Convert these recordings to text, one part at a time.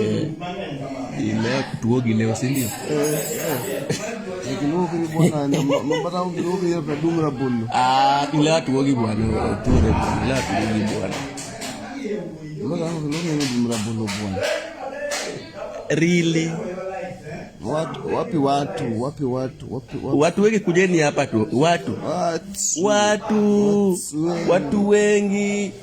Eh, ile tuo gileo si ndio? Ah, ile atuogi bwana, tuore bwana, ile atuogi bwana. Really? Watu, wapi watu? Wapi watu? Wapi watu? Watu wengi kujeni hapa tu. Watu. Watu. Watu, watu wengi.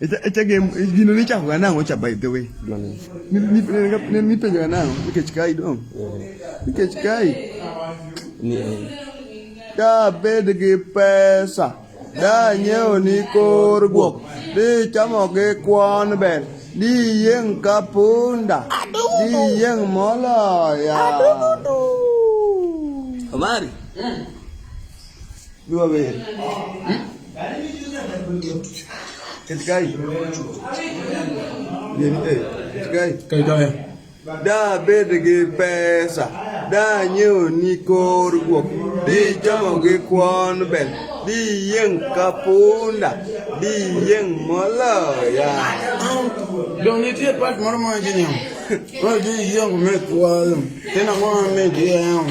Echage gino ni chako ga nang'o cha by the way. Ne ni penjo ga nang'o nikech kai dong. Nikech kai. Ni da bed gi pesa da nyiewo ni kor guok di chamo gi kwon bel di yieng' ka punda di yieng' moloya omari Da bed gi pesa, da nyiewo ni kor guok, di chamo gi kwon bel, di yieng' ka punda, di yieng' moloya. Dong nitie pat moro ma wacho niya, wadhi yieng' me kwalo, tena mwa me jieng'.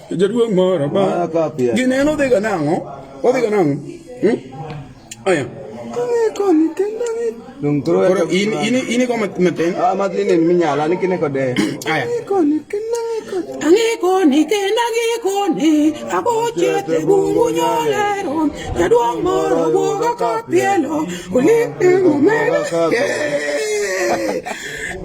Jaduong' moro ba gineno dhiga nang'o odhiga nang'o hmm? aya koni kendo koro in in in ko matin ah matin en minyala ni kine kode aya koni kendo Angi koni kenda gi koni Ako chete gungu nyolero Jaduong moro buogo kapielo Uli ingo mega Yeah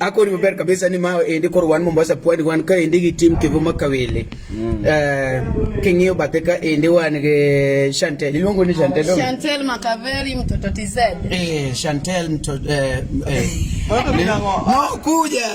ako ni maber kabisa ni ma endi kor wan Mombasa pwani wan ka endi gi tim Kivu Makawele mm. eh, king'iyo bathe ka endi wan gi Chantel iluongo ni Chantel Chantel Makaveri mtoto TZ eh Chantel mtoto eh, eh. kuja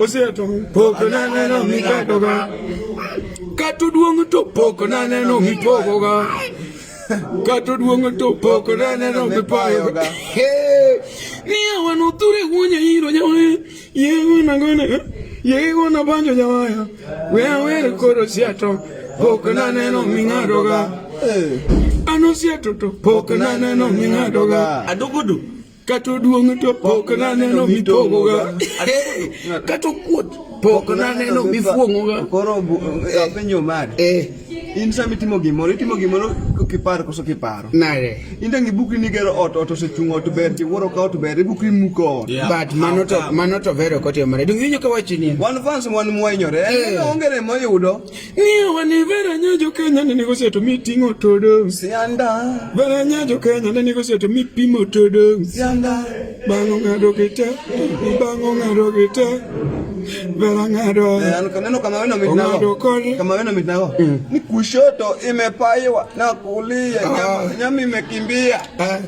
oseto pok naneno mikadoga kata oduong' to pok naneno mipogoga kata oduong' to pok naneno mipayoga niya wan othure wuonya iro nyawe yegonagona yegona banjo nyawaya we awere koro siato pok naneno ming'adoga eh. an osieto to pok naneno ming'adoga adugudu Kata oduong' to pok naneno mitong'oga. Kata okuot pok naneno mifuong'oga. Koro eh, apenjo mari. Eh. In sama itimo gimoro, itimo gimoro kiparo koso kiparo. Nare. In tangi buki ni gero ot, ot osechung' ot ber, tiwuoro ka ot ber, ibuki muko ot. But mano to mano to vero kote mare. Dong inyo ka wachi ni. Wan fans wan mwenyore. Eh. Ongere moyudo. Niyo wani vera nyajo Kenya ne nigo seto mi tingo todo Sianda Vera nyajo Kenya ne nigo seto mi pimo todo Sianda Bango ngado kita Bango ngado kita Vera ngado Neno kama wena mitnago Kama wena mitnago mm. Ni kushoto imepaiwa na kulia ah. Nyami imekimbia ah.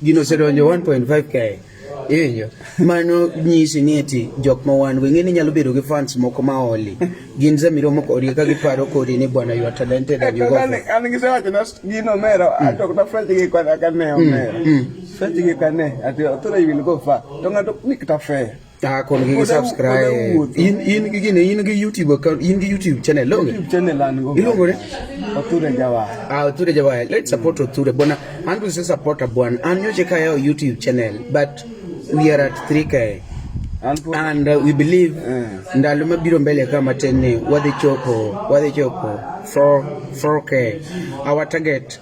Gino osedonjo 1.5k. Iwinjo? Mano nyisi ni eti jok ma wan go ing'e ni nyalo bedo gi fans moko ma oli. Gin zamiro moko odi ka giparo kodi ni bwana you are talented and you go. An an gi sewacho na gino mero ato na fresh gi kwa ka ne omero. Fresh gi ka ne ati otore you will go far. To ng'ato ni kata fair. ah kon gi subscribe in in gi ne in gi youtube account in gi youtube channel lo youtube channel an go ilongo ne oture jawa ah oture jawa let's support oture bona andu se support bwana an yoche ka yao youtube channel but we are at 3k and uh, we believe eh. ndalo mabiro mbele kama tenne wadhi chopo wadhi chopo 4 4k our target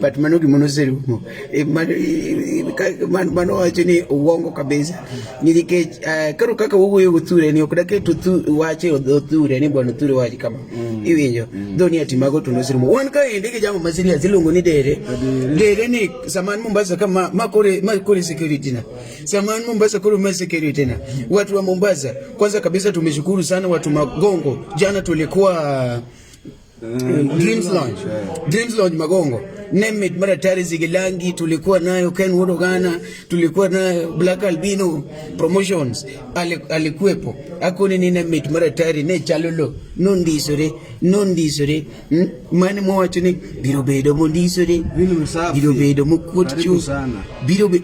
but mano gima noserumo e, e, mano wacho ni uongo kabisa nikech eh, karo kaka wuoyo gothure ni ok daket wache othure ni bwana othure wache kama mm. iwinjo mm. dho ni ati mago to noserumo wan ka ende gi jamo masiria siluongo ni dere dere ni saman Mombasa kama makore makore security na saman Mombasa kore ma security na watu wa Mombasa kwanza kabisa tumeshukuru sana watu magongo jana tulikuwa Mm, Dreams Lounge. Dreams Lounge Magongo. Name it mara tayari Zigilangi tulikuwa nayo Ken Wodogana, tulikuwa na Black Albino Promotions alikuwepo. Akuni ni name it mara tayari ne chalolo no ndisore no ndisore hmm? mani mwacho ni biro bedo mo ndisore biro bedo mo kuot chu biro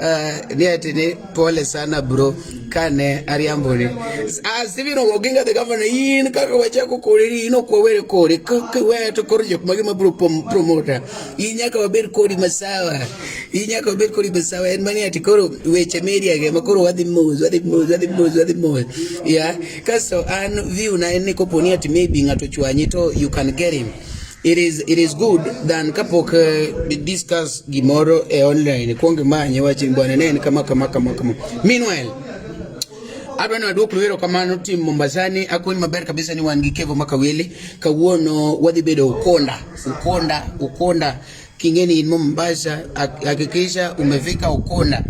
Uh, ni ati ni pole sana bro kane ariambo ni asibi ah, no goginga the governor in kaka wacha ko kori ino kwa were kori kaka we to kori jok magi ma bro promoter inya ka waber kori masawa inya ka waber kori masawa en mani ati koro weche media ge ma koro wadhi moz wadhi moz wadhi moz wadhi moz yeah kaso an view na en ni koponi ati maybe ngato chwanyi to you can get him It is, it is good than kapok uh, discuss gimoro e online kuong imanye wachi bwana ne en kama kama kama kama. Meanwhile, adwa ni waduok luero kamano tim Mombasani akoni maber kabisa ni wan gi Kevo Makawili kawuono wadhi bedo Ukonda Ukonda Ukonda kingeni inmo mbasha hakikisha umefika ukona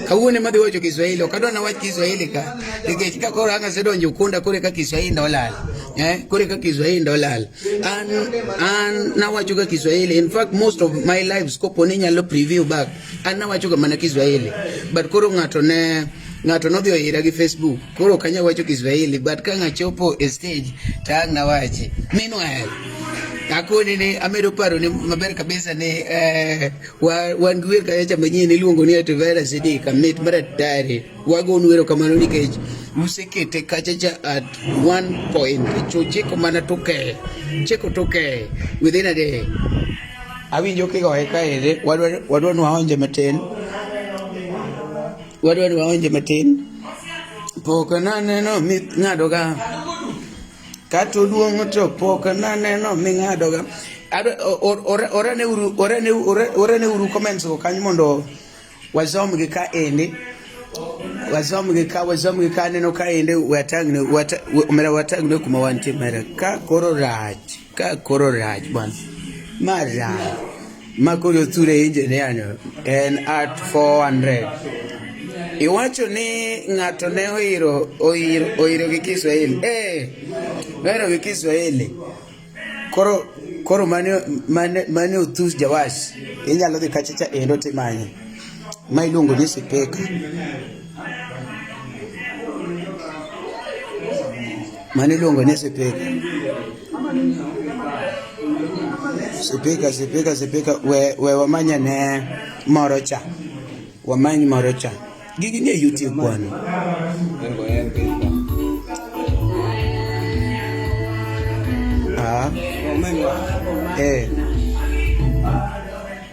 kawone madhi wacho Kiswahili okadwa na wach Kiswahili ka nikech ka koro anga sedonjo ukunda kore ka Kiswahili ndolal eh kore ka Kiswahili ndolal an an na wacho ka Kiswahili in fact most of my lives kopo ni nyalo preview back an na wacho ka mana Kiswahili but koro ngato ne ngato nodhi oira gi Facebook Koro ok anyal wacho Kiswahili but ka ngachopo e stage to ang' nawache. Meanwhile, akoni ni amedo paro ni maber kabisa ni eh, wan gi wer kacha manyien iluongo ni Ativera Siddiq Amit Maratari. Wagon wero kamano nikech usekete kachacha at one point cho chiko mana toke chiko toke within a day awinjo kigoye kaere wadwa nwaonje matin Wadwar waonje matin. Pok naneno ming'adoga. Kata oduong' to pok naneno ming'adoga. Orane uru comments go kanyo mondo wasomgi ka endi. Wasomgi ka wasomgi ka aneno ka endi watang'ne omera watang'ne kuma wantie mera ka koro rach. Ka koro rach bwana. Ma rach. Ma koro sura engineer no en at 400. Iwacho ni ng'ato ne oiro oiro oiro gi Kiswahili. Eh. Oiro gi Kiswahili. Koro koro mane mane mane utus jawash. Inyalo dhi kachacha endo timanye. Ma iluongo ni sipeka. Mani iluongo ni sipika. Sipika, sipika, sipika, we, we wamanya ne moro cha. Wamany moro cha. Gigi nie YouTube kwano. Ah. Eh.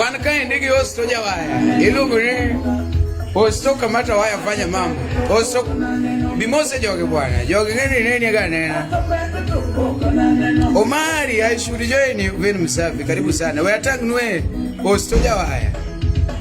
Wan ka endi gi hosto jawaya iluongo ni hosto kamata waya fanya mambo hosto bimose jogi bwana jogi ng'eni neni ga nena Omari I should join you Vin Msafi karibu sana we attack nwe hosto jawaya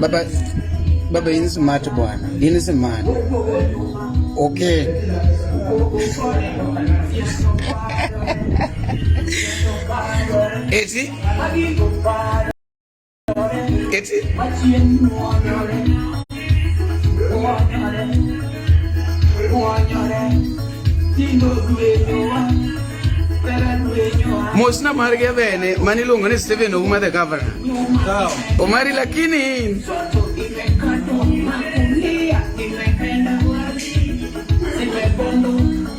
Baba, baba ini smart bwana, ini smart. Okay. Eti Eti Mosi na mari ya vene mani lungo ni Stephen Ouma the governor. Omari lakini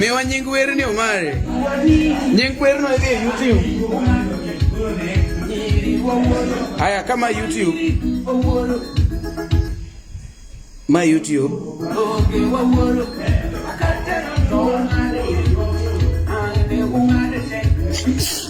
Miwa nying werni Omari. Nying werno idhi e YouTube. Haya, kama YouTube. Ma YouTube.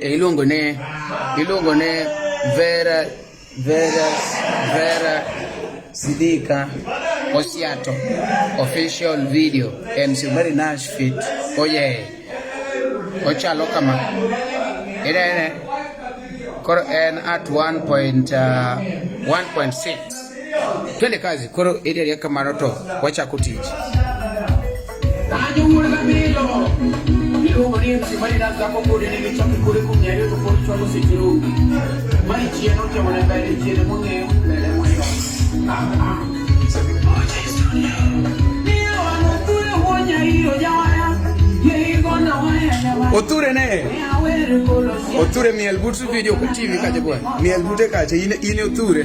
iluongo ni iluongo ni Vera Vera Vera Sidika Osiato official video MC Mary Nash fit oye ochalo kama ene koro en at 1.1.6 Twende kazi koro eri ariya kamano to wachako tich. Oture ne Oture miel but video ka TV kaje bwana miel bute kaje ine ine Oture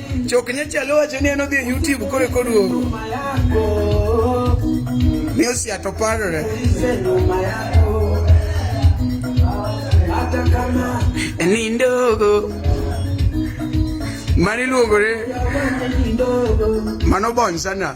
Chok nyachalo wacho ni en odhi e YouTube kore koduogo. Ni osiato parore. Nindogo. Mani luogore. Mano bon sana.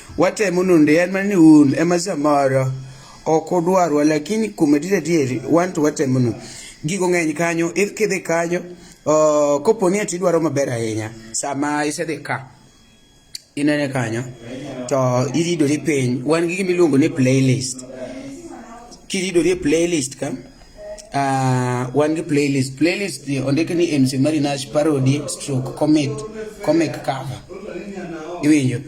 watemo nonde en mana ni un ema samoro ok udwarwa lakini kuom adier adieri wan to watemo no gigo ng'eny kanyo if kidhi kanyo uh, kopo ni ati idwaro maber ahinya sama isedhi ka inene kanyo to iridori piny wan gi gimiluongo ni playlist kiridori e playlist ka uh, wan gi playlist playlist ondik ni MC Marinash parody stroke comic comic cover iwinjo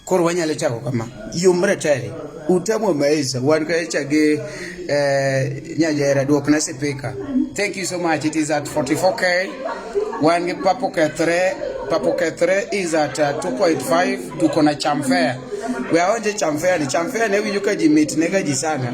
Koro wanyalo chako kama, yomre tele utamwa maisha wan kacha gi eh, nyajera duok na sipika. Thank you so much. It is at 44k. Wan gi papo kethre papo kethre is at uh, 2.5 tuko na chamfea. We aonje chamfea ni chamfea ne winjo ka ji mit ne ka ji sana.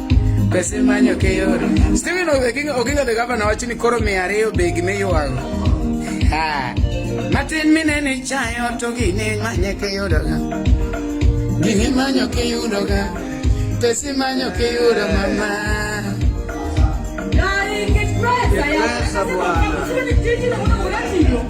Pesa imanyo kiyudo. Steven Oginga Oginga the governor wacho ni koro mia ariyo be gima iywago. Ha. Matin mine ni chayo to gini manye kiyudo ga. Gini manyo kiyudo ga. Pesa imanyo kiyudo mama. Dai, che presa, ya. Presa buona.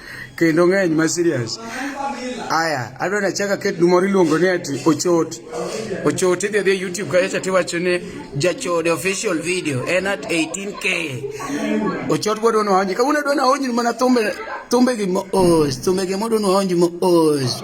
Kendo ng'eny ma serious. Aya, adwa nachaka ket dumoro iluongo ni ati ochot. Ochot idhi adhi YouTube kacha cha tiwacho ni jachode official video en at 18k. Ochot bwa dono hanji. Kawuna dono hanji mana thumbe thumbe gi mo os, thumbe gi mo dono hanji mo os.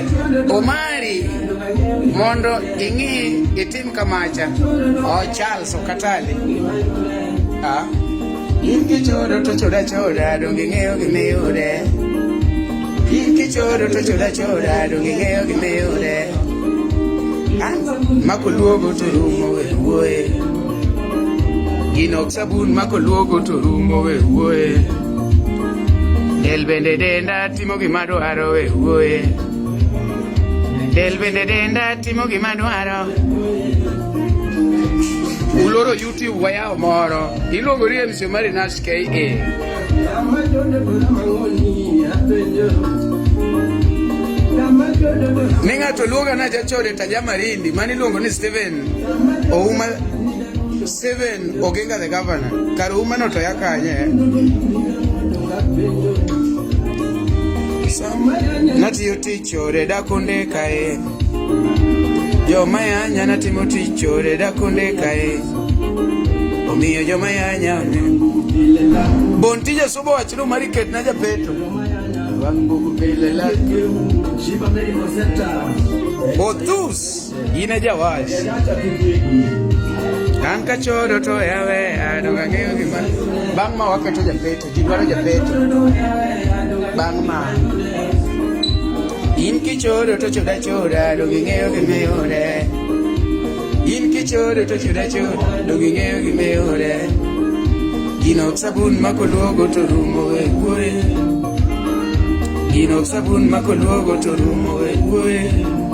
Omari mondo ing'i itim kamacha o Charles Okatali ah. in kichodo to choda choda donge ing'eyo gimiyude in kichodo to choda choda donge ing'eyo gimiyude ah, makoluogo to rumo we wuoye gino sabun makoluogo to rumo we wuoye del bende denda Timo gima dwaro we wuoye. Del bende denda timo gima dwaro. Uloro YouTube wayawo moro. Iluongo ni MC Omari Nash KA. Ne ng'ato luonga na jachode tajamarindi mani luongo ni Steven Ouma Steven Oginga the governor, kar umano to yakanye. Natiyo tich ore dakonde kae. Joma yanya natimo tich ore dakonde kae. Omiyo joma yanya Bon tije subo wachno mari ket na japeto. Othus Yine yavaş. Kanka choro to yawe adonga ng'eyo gima bang' ma waketo japeto ji dwaro japeto bang' ma in kichodo to choda choda donge ing'eyo gimiyude in kichodo to choda choda donge ing'eyo gimiyude gino ok sabun ma koluogo to rumo we wuoye gino ok sabun ma koluogo to rumo we wuoye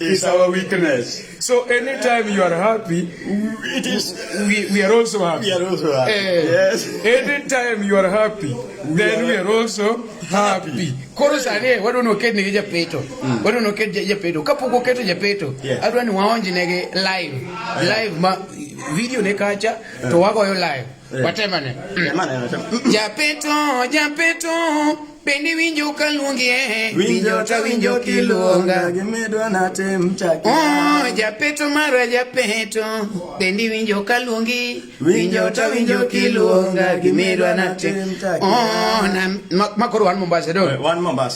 is our weakness. So anytime you are happy, it is we, we are also happy. We are also happy. Eh, yes. Anytime you are happy, we then are we are also happy. Koro sani eh, wadu no kedi nige japeto. Mm. Wadu no kedi japeto. Kapo ko keto japeto. Yeah. Adwa ni waonji nege live. Eh. Live ma video ne kacha to eh. wago yo live. Eh. Watemane. Temane watemane. Japeto, japeto, pendi winjo kalungi eh. Winjo ta winjo kilunga. Gimedwa na tem chaki. Oh, japeto mara japeto, pendi winjo kalungi. Winjo ta winjo kilunga. Gimedwa na tem chaki. Oh, na makoro wan Mombasa do. Wan Mombasa.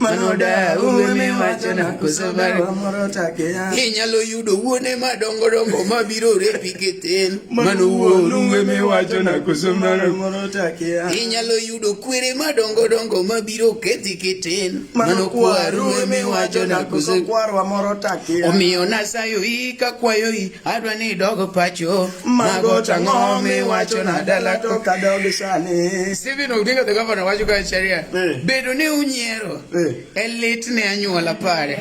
manoda ume wacho na kusobago moro take ya inyalo yudo wuone madongo dongo mabiro repi keten mano wuonu ume wacho na kusobago moro take ya inyalo yudo kwere madongo dongo mabiro kethi keten mano kwaru ume wacho na kusobago moro take ya omiyo nasayo i kakwayo i adwa ni dogo pacho Mago chang'o miwacho na dala to kadogi sani. Stephen Odinga the governor wacho ka sheria. Eh. Bedo ni unyiero. Eh. E lit ne anyuola pare.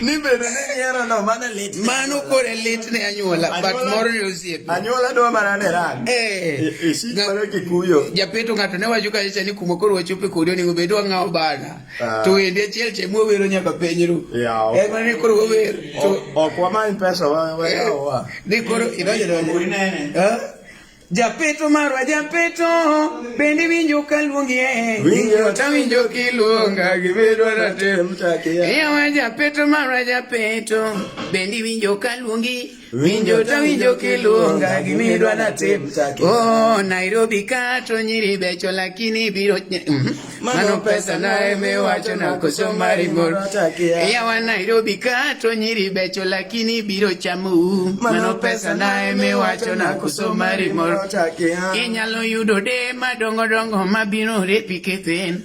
Ni bedo ni nyiero no mano lit. Mano kore e lit ne anyuola but moro ne osiepe. Anyuola dwa mana ne ran. Eh. Ishik e, e mana kikuyo. Japeto ng'ato ne wacho ka ni kuma koro wachope kodi onego bed wang'awo bana. Ah. to wendi achiel che mwawero nyaka penjru en mana ni koro wawer ok wamany pesa wayawa eh, ni koro idonjodonje japeto marwa japeto bende winjo ka luongi e winjo ta winjo kiluonga gibedwa natem chakiya yawa japeto marwa japeto bende winjo ka luongi Winjo to winjo kiluonga gimidwa na tim take. Oh, Nairobi kato nyiri becho lakini biro nye. Mm -hmm. Mano pesa na eme wacho na koso mari moro. Eya wa Nairobi kato nyiri becho lakini biro chamu. Mano pesa na eme wacho na koso mari moro. Inyalo yudo de madongo dongo mabiro repi kethen.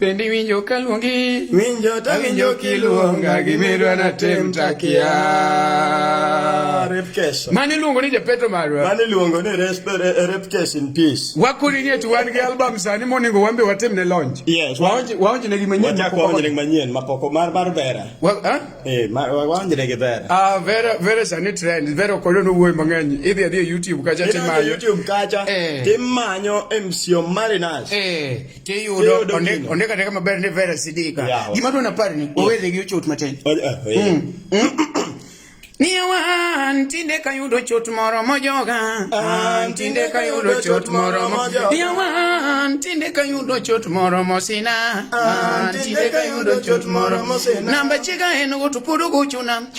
Pendi winjo kaluongi winjo ta winjo kiluonga gimerwa na tem takia repkesha mani luongo ni japeto marwa mani luongo ni repkesha in peace wakuri ni tu wan gi album sani moningo wambe watem ne launch yes waonje waonje ne gimanyien wachako waonje ne gimanyien mapoko mar mar vera wa ha eh waonje ne vera ah vera vera sani trend vera kolo no wuoy mang'eny idhi adhi e youtube kacha timanyo youtube kacha eh. timanyo mco marinas eh tiyudo ondik ateka maber ni vera sidika gima dwona pari ni owedhe gi ochot matin oh, eh, eh. Mm, mm. Niye wan tinde ka yudo chot moro mojoga an tinde ka yudo chot moro mojoga Niye wan tinde ka yudo chot moro mosina an tinde ka yudo chot moro mosina Namba chiga en go to podo go chuna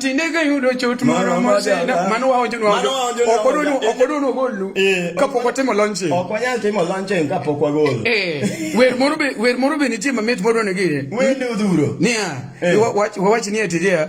Tinde ka yudo chot moro moseda mano waonjo nwajo ok odonu ok odonu ogolu kapok watimo launching ok wanyal timo launching kapok wagolo wer moro be wer moro be nitie mamit modwa ne gire wende odhuro niya wawach ni atiria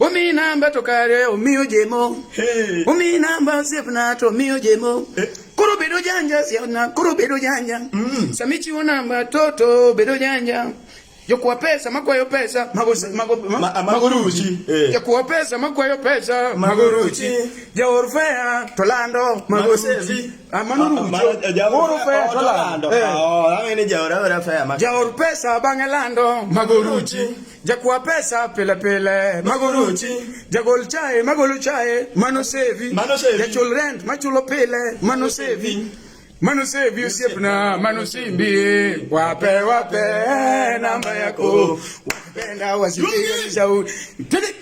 Umi namba to kare omiyo jemo. Hey. Umi namba osepna to omiyo jemo. Hey. Koro bedo janja siana, koro bedo janja. Mm. Samichiwo namba toto bedo janja. Jokuwa pesa makwayo pesa mago mago mago ruchi. Eh. Jokuwa pesa makwayo pesa mago ruchi. Jaor fea to lando mago ruchi. Amano ah, ruchi. Jaor eh, fea to lando. Eh. Oh, amene jaor fea mago. Jaor pesa bang'e lando mago ruchi. Jakuwa pesa pile pile magoruchi jagol chae magolo chae mano sevi jachul rent machulo pile mano sevi mano sevi osiepna mano simbi wape wape namba yako wapenda wasipiganishauri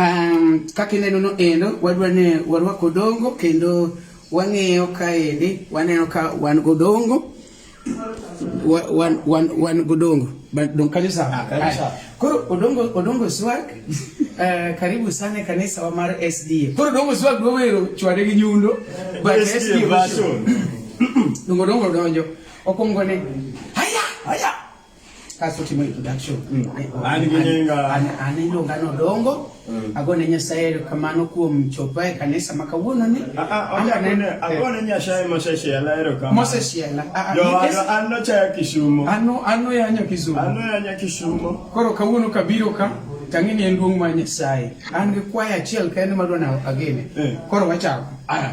Um, kaka ineno no endo wadwa ni warwak odongo kendo wang'iyo kaendi waneno ka wan godongo wan, wan, wan godongo don kanyo sawa ah, koro odongo odongo swag uh, eh, karibu sana kanisa wa mar sda koro odongo swag dwawero chwade gi nyundo but sda dongo dongo donjo okwongo ne haya haya kasotimo introduction mm. aneno ngano dongo mm. agone nyasaye erokamano kuom chopa e kanisa ma kawuono ni ah, ah, agone nyasaye mosesiela erokamosesiela an nochaya kisumo an noyanyo kisumo an noyanya kisumo koro kawuono kabiro ka tang'e ni en duong' mar nyasaye an gi kwaya achiel kende madwa na agene eh. koro wachako ah.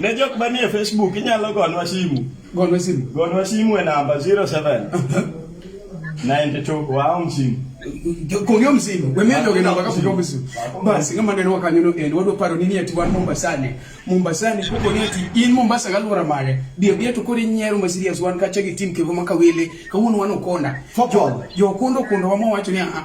ne jok manie Facebook inyalo gonwa simu. Gonwa simu. Gonwa simu e namba 07 92 waom simu. Kong'yo msimu, wemia jogi namba ka kong'yo msimu. Basi ng'ama neno wakanyono en wadwa paro nini ati wan Mombasani. Mombasani kuko ni ati in Mombasa galwora mare. Bia bia to kori nyero ma serious wan kacha gi team kevo makawele. Kawuono wan okona. Football. Jo kundo kundo wamo wacho ni a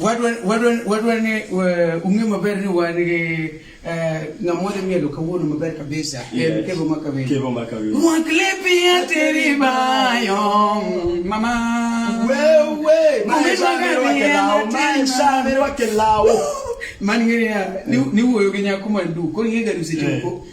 Wadwa wadwa wadwa ni ung'e maber ni wan gi eh, ng'amwa dhi mielo kawuono maber kabisa en kevo ma kawendo. Kevo ma kawendo. Mwak lepi ateri bayo mama. Wewe maisha mirwake lao maisha mirwake lao. Man ng'eya ni wuoyo gi nyako mandu koro ing'e gadusi choko. Eh.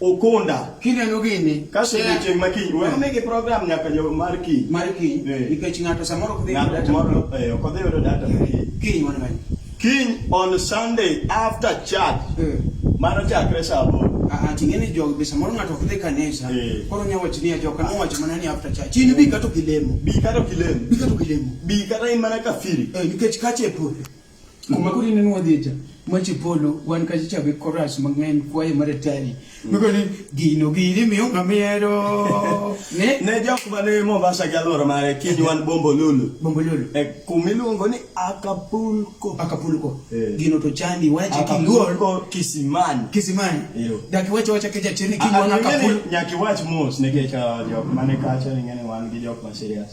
Okunda. Kineno gini. Kaso yeah. chieng' ma kiny. Wewe mege program nyaka jo mar kiny. Mar kiny. Eh. Nikech ng'ato samoro ok dhi yudo data. Ng'ato eh ok dhi yudo data mar kiny. Kiny wan mani. Kiny on Sunday after church. Eh. Mano chakre saa aboro. ating'eni jogi be samoro ng'ato ok dhi kanisa eh. koro nya wach ni ajoka nowacho mana ni after church in bi kato kilemo bi kato kilemo bi kato kilemo bi kata in mana kafiri eh, nikech kache pur kuma kuri ne nwa dhecha machi polo wan kachi chabe koras mang'eny kwaye mar atari miko ni gino gini miyo ng'amiero ne ne jok mane Mombasa gi alwora mare kiny wan Bombolulu Bombolulu e kuma iluongo ni Acapulco Acapulco eh. gino to chandi wache kiluor Kisimani Kisimani dak wache wache keja chini kiny wan Acapulco nyaki wach mos nikech ah, jok mane kacha ng'ene wan gi jok ma serious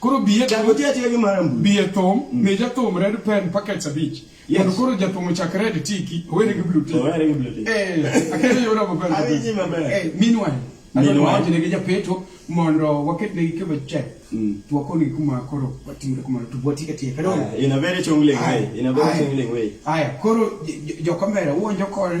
Koro biye Chako tiyo atiya gi mara mbui. biye thum mm. mi jathum red pen packets abich. Yes. Mondo koro jathum ochak red tiki, owere gi blue tiki. Owere gi blue tiki. Eh, akere yora maber. Awinji maber. Eh, meanwhile, adwa wacho ne gi japeto mondo waket ne gikebe check. Mm. To wakoni kuma koro watimre kuma to bwati ka tiye. Kadona. In a very chungling way. In a very chungling way. Aya, koro jo kamera uonjo kore.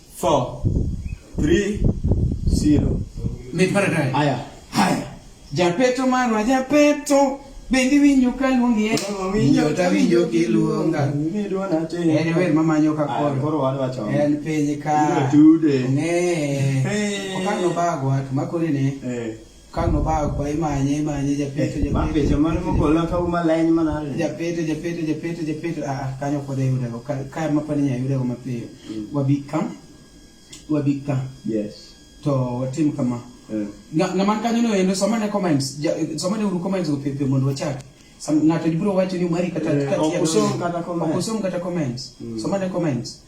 4 3 0 Mipara dai. Haya. Haya. Japeto marwa japeto bendi winjo ka luongi e winjo ta winjo ki luonga ni duona te en wer ma manyo ka koro koro wan wacho en piny ka tude ne hey. okano bago at makore ne eh Kano ba kwa imanye imanye japeto eh, japeto. Mapeto mano mokola ka uma leny manale. Japeto japeto japeto japeto a ah, ah, kanyo kode yude go ka ka mapani nya yude go mapiyo. Mm. Wabika. Wabika. Yes. To watim kama. Eh. Nga man kanyo no endo somane comments. Somane uru comments go pepe mondo wachak. Ng'ato biro wacho ni mari kata eh, kata. Okosom kata comments. Okosom kata comments. Mm. Somane comments.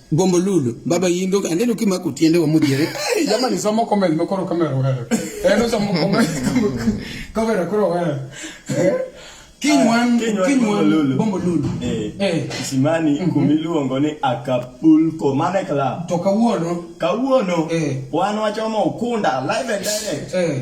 Gombo lulu, baba yindo, ande nuki maku tiende wa mujere. Hey, jamani somo kome, nimekoro kame rohere. Eh, no somo kome, kome rakuro rohere. Kinywan, ah, kinywan, bombo lulu. Eh, eh. Simani, mm -hmm. kumilu ongoni Acapulco, mane club. Toka uono. Ka uono. Eh. Wano wachomo ukunda, live and direct. Eh.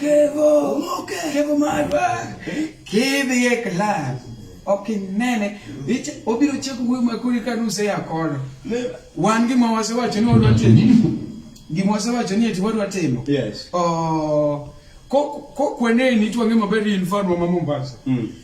Kevo, Kevo Marwa, kidhi e club ok inene obiro chako wuoyo makuri ka nuse ya kono wan gima wasewacho ni wadwa timo gima wasewacho ni eti wadwa timo yes. oh, kokweneni twang'e maber in farwa ma Mombasa mm.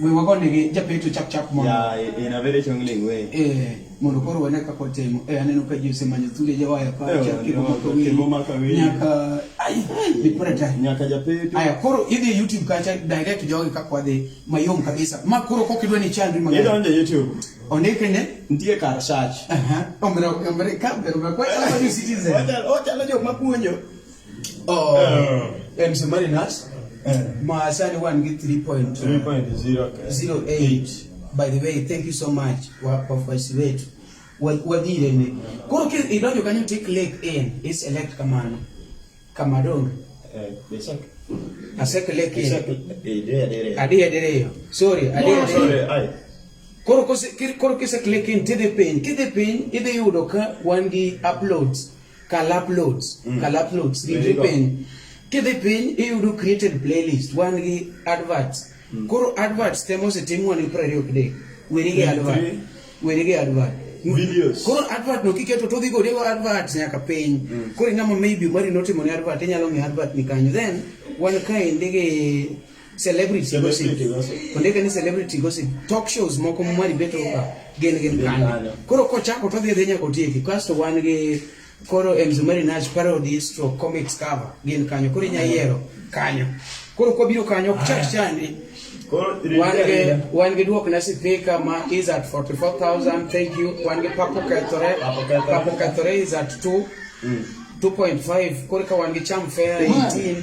we wago negi japeto chap chap mondo ya in a very chongling way eh mondo koro wane kaka otimo eh aneno ka jose manyo thude jawaya pa eh, chap kibo mako wi kibo mako wi nyaka ai ni pore ta nyaka japeto aya koro idhi youtube kacha direct jogi kaka wadhi mayom kabisa ma koro kok idwa ni channel ma idonje youtube onike ne ndie kar search aha omre omre ka bero kwa kwa citizen oja oja jo mapuonjo Oh, uh, and Submariners, uh, Maasani 1 get 3.08. By the way, thank you so much wafuasi wetu wadhirene koro idonjo kanyo tik lake in iselect kamano kamadonge eh, aseke lake in adiye diriyo sorry adiye diriyo koro kise click in tidhi piny kidhi piny idhi yudo ka wan gi uploads Kalaploads, mm. Kalaploads, gidhi piny. Kidhi piny iyudo created playlist, wan gi adverts. Mm. Koro adverts temo osetim wan gi prariyo kide. Weri gi advert. Weri gi advert. Videos. Koro advert no kiketo to dhi gode go advert nyaka piny. Mm. Koro ng'ama maybe mari notimo ne advert inyalo ng'e advert ni kanyo. Then wan kae ndege celebrity konde kani celebrity gossip talk shows moko mwari beto ba gen gen kani koro kochako to dhi dhi nyako tieki kasto wan gi koro mzumari nash parody stroke comics cover gen kanyo koro inya yiero kanyo koro kwa biro kanyo ok chak chandi wan gi duok na sipika ma is at 44000 thank you wan gi papo kethore papo kethore is at 2 2.5 mm. koro ka wan gi cham fair 18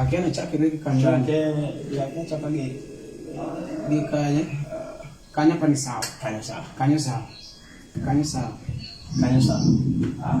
Akena chakre gi kanyo. Chakre chakre gi gi kanyo. Kanyo pani sawa. Kanyo sawa. Kanyo sawa. Kanyo sawa. Kanyo sawa. Ah.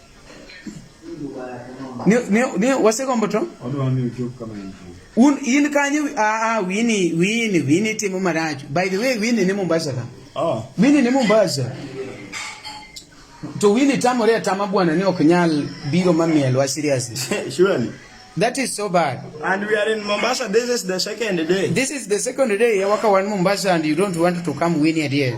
ni ni ni wase gombo to un in kanye a a wini wini wini timo marach by the way wini ni Mombasa ka oh wini ni Mombasa to wini tamore atama bwana ni ok nyal biro mamielwa seriously surely That is so bad. And we are in Mombasa. This is the second day. This is the second day. Yawaka one Mombasa and you don't want to come win it here.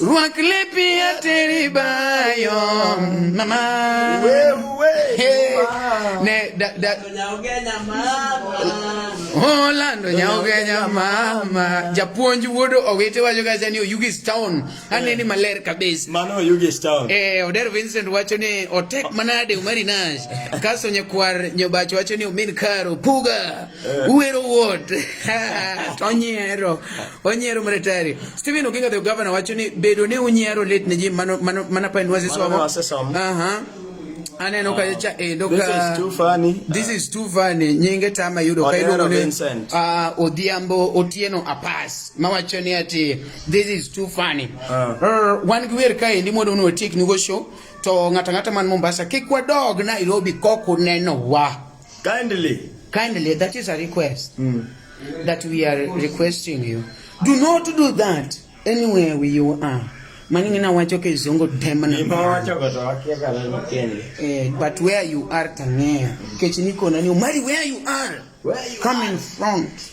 Rwak lepi ateri bayo mama ne da da Orlando nyaogenya mama japuonj wuodo owete wacho kacha ni Oyugis town aneni eh. maler kabisa mano Oyugis town eh Oder Vincent wacho ni otek manade umari nash kaso nyakwar nyobacho wacho ni omin karo puga eh. uwero wuot tonyero Onyiero mretari. Stephen Oginga the governor wacho ni bedo ni unyiero lit ne ji mano mano mana pa nwazi somo. Aha. Aneno ka cha endo eh, ka This is too funny. This is too funny. Nyinge tama yudo ka iluongo ni ah Odhiambo Otieno Apas. Mawacho ni ati this is too funny. Ah. Er, wan gi wer ka endi mondo uno tiek nigo show to ngata ngata man Mombasa kik wadog Nairobi kok uneno wa. Kindly. Kindly, that is a request mm. that we are requesting you. Do not do that anywhere where you are. Maningi na wacho ke zongo demana. Ima wacho ko tawakia kala mkende. Eh, but where you are tangea. Kechini kona ni umari where you are. Where you Come are. in front.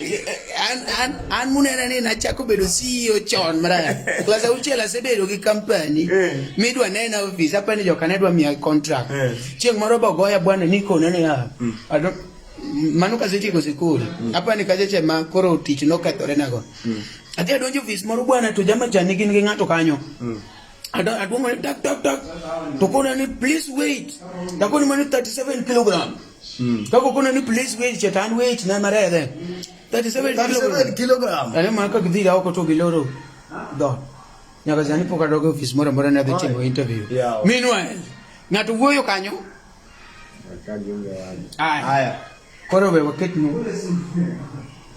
an an an munena ni nachako bedo CEO chon maraya klas auchiel asebedo gi company eh. midwa nena office apa ni joka nedwa miya contract eh. chieng' moro bogoya bwana nikone niya hmm. mano kasetieko sikul hmm. apa ni kaseche ma koro tich nokethore nago hmm. adhi adonjo ofis moro bwana to jamachani gin gi ng'ato kanyo aduongone tak tak tak to kona ni please wait takoni mani 37 kilogram Hmm. Kako kuna ni place weight chetan weight na mare de. 37 kilogram. kilogram. Are ma ka gidi rao ko to biloro. Do. Nyaka zani poka dogo office mora mora na de chimo interview. Yeah. Meanwhile, ng'ato wuoyo kanyo. Haya. Haya. Koro we waketni.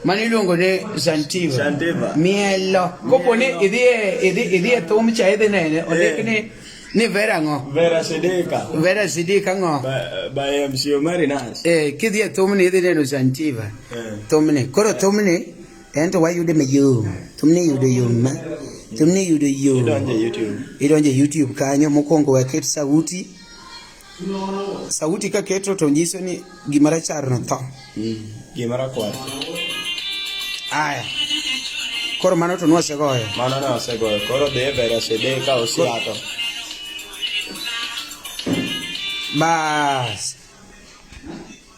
mano iluongo ni zantiva Zantiva. mielo kopo ni Mielo. idhi e- idhi idhi e thum cha idhi nene ondik Eh. ni ni vera ng'o Vera Sedeka. vera sidika ng'o By, by MC Omari Nas. eh, kidhi e thumni idhi neno zantiva Eh. thumni koro thumni en to wayude mayom thumni yudo yom ma thumni yudo yom Idonje YouTube. idonje youtube kanyo mokwongo waket sauti Sauti ka keto to nyiso ni gima rachar no tho. Mm. Gima rakwar. Aya. Koro mano to nwasegoyo. Mano ne wasegoyo. Koro dhi e vera sede ka osiato. Bas.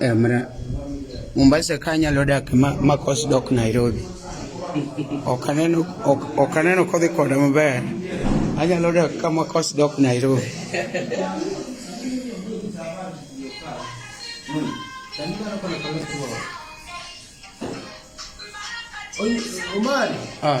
Emre, Mombasa ka anyalo dak makos dok Nairobi. Ok aneno ok aneno kodhi koda maber. Anyalo dak ka makos dok Nairobi. Omari. Ah.